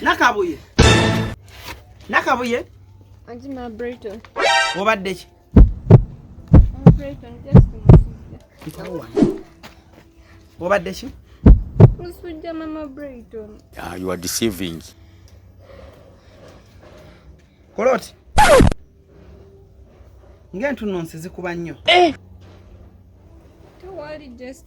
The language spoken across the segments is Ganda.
nakabuye nakabuye obadde ki obadde ki musujja mama brayton ah, you are deceiving koloti ng'entuno nsi zikuba nnyo eh! tewali just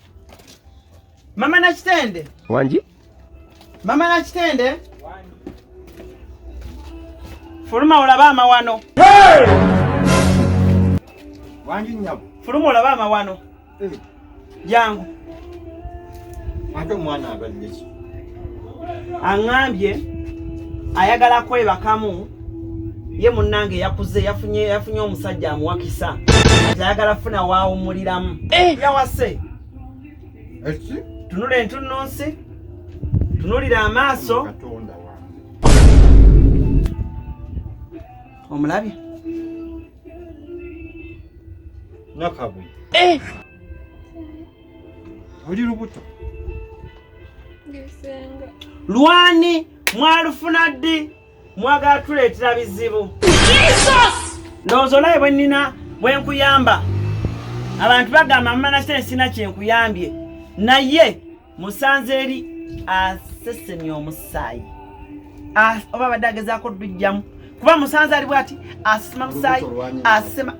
Mama na kitende. Wanji? Mama na kitende. Wanji. Fuluma olaba amawano. Hey! Wanji nyabo. Fuluma olaba amawano. Hey. Yangu. Ate mwana abadde ki? aŋambye ayagala kwebakamu ye munnange yakuze yafunye yafunye omusajja amuwakisa ayagala funa waawumuliramu eh! yawase tunula entunnunsi tunulira amaaso omulabye nakabuye eh! oli lubuto lwani mwalufuna ddi mwagala tuleetera bizibu ndowooza olabe bwe nnina bwe nkuyamba abantu bagamba mumana kite nsina kyenkuyambye naye musanze eri asesemya omusaayi oba abadde agezaako dujjamu kuba musanze ali bwati asesema musaayi asesema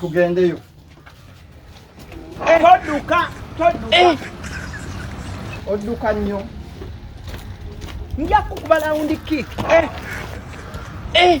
tugendeyo toduka toduka eh. oduka nnyo nja kukuba lawundi kik eh. eh.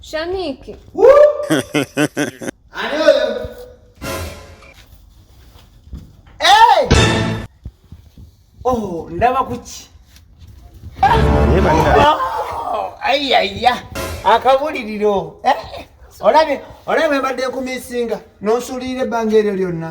Shaniki. Oh, ndaba kuki ayaya oh, akabuliriro eh, olabye olabye mbadde kumisinga n'osuulirira ebbanga eryo lyonna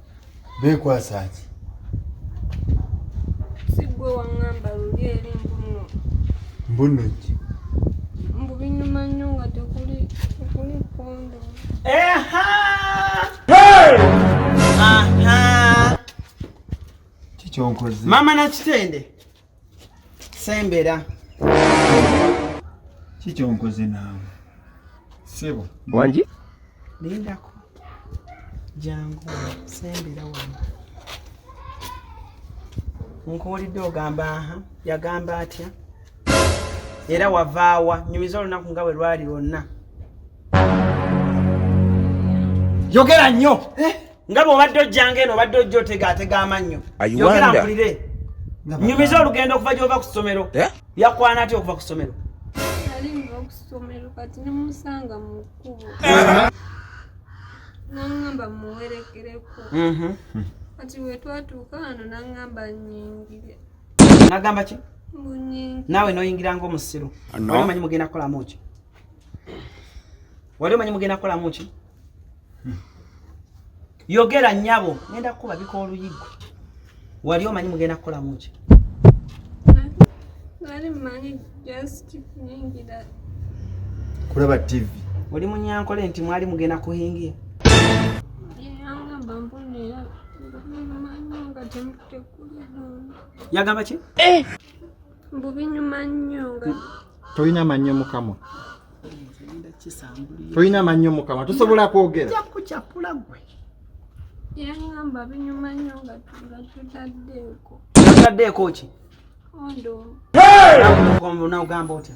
beekwasa ki sigwe waŋŋamba luli eri mbuno mbuno ki mbu binyuma nnyo nga tekuli tekuli kondo eha aha kikyonkoze maama nakitende sembera kikyonkoze naawe sebo wangi lindako jangu sembera wano nkuwulidde ogamba aha yagamba atya era wavaawa nyumiza olunaku nga bwe lwali lwonna yogera nnyo eh? nga bw'obadde ojjanga eno obadde ojja otegaatega amannyo yogera mpulire nyumiza olugendo okuva gy'ova ku ssomero eh? yakwana atya okuva ku ssomero nangamba muwerekereko mhm. kati wetwatuuka wano nangamba nyingire nagamba ki naawe noyingira ngaomusiru omanyi mugenda kukolamu ki wali omanyi mugenda kukolamu ki yogera nyabo ngenda kukuba bika oluyiggo wali omanyi mugenda kukolamu ki kulaba tv oli munyankole nti mwali mugenda kuhingia yagamba ki eh! mbu binyuma nnyo nga tolina mannyo mukamwa tolina mannyo mukamwa tosobola kwogera kukyapula gwe yangamba binyuma nnyo nga tutaddeeko tutaddeeko ki ondo nogamba otya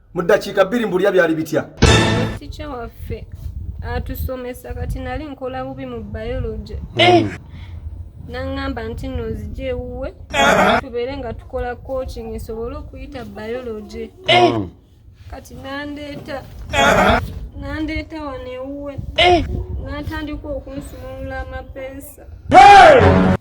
mu ddakiika bbiri mbulya byali bitya tikya waffe atusomesa kati nali nkola bubi mu biology eh. naŋŋamba nti no nzija ewuwe tubeere nga tukola coaching nsobole okuyita biology eh. mm. kati nandeeta nandeeta wano ewuwe eh. natandika okunsumulula amapeesa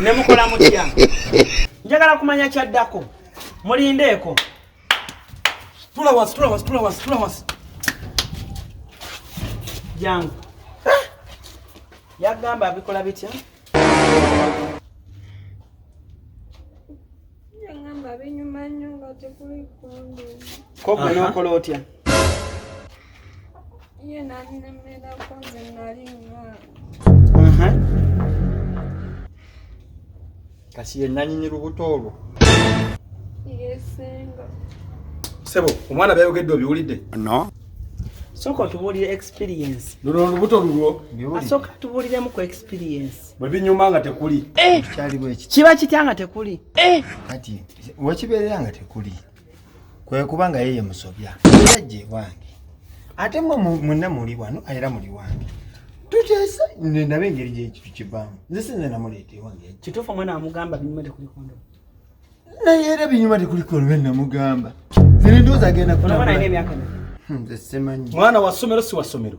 nemukola mutya njagala kumanya kyaddako mulindeeko tula wansi tula wansi tula wansi tula wansi jangu ah! yagamba abikola bitya koko nokola otya kasi yenanyini lubuto olwo sebo omwana byayogedde obiwulidde no soka otubuulire experience luno olubuto lulwo asoka tubuuliremu ku experience bwe binyuma nga tekuli eh! kiba kitya nga tekuli eh! kati wekibeerera nga tekuli kwe kuba nga yeye musobya era gye wange ate mwe mwenna muli wano era muli wange tuteesa nendaba engeri gyekitu kivaamu nze sinze namuleeta ewange kituufu omwana wamugamba binyuma tekuli kondo naye era binyuma tekuli kondo namugamba zirindoozi agenda kutamula hmm, mwana wa ssomero si wa ssomero